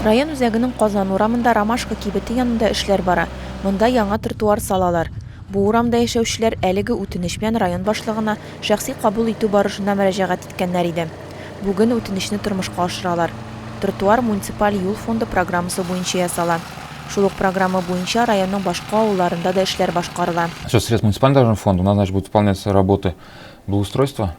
Район үзәгенең Казан урамында Ромашка кибете янында эшләр бара. Монда яңа тротуар салалар. Бу урамда яшәүчеләр әлеге үтенеч белән район башлыгына шәхси кабул итү барышында мөрәҗәгать иткәннәр иде. Бүген үтенечне тормышка ашыралар. Тротуар муниципаль юл фонды программасы буенча ясала. Шул ук программа буенча районның башка авылларында да эшләр башкарыла. Со средств муниципального дорожного фонда у нас, значит, будут выполняться работы благоустройства.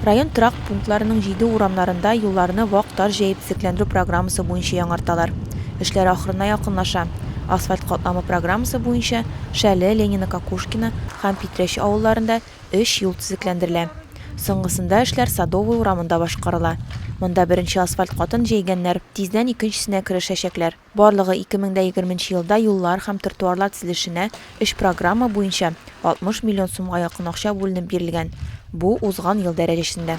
Район торак пунктларының җиде урамнарында юлларны вак таш җәеп төзекләндерү программасы буенча яңарталар. Эшләр ахырына якынлаша. Асфальт катламы программасы буенча Шәле, Ленино, Кокушкино һәм Питрәч авылларында өч юл төзекләндерелә. Соңгысында эшләр Садовый урамында башкарыла. Монда беренче асфальт катын җәйгәннәр, тиздән икенчесенә керешәчәкләр. Барлыгы ике мең дә егерме нче елда юллар һәм тротуарлар төзелешенә өч программа буенча 60 миллион сумга якын акча бүленеп бирелгән, бу, узган ел дәрәҗәсендә.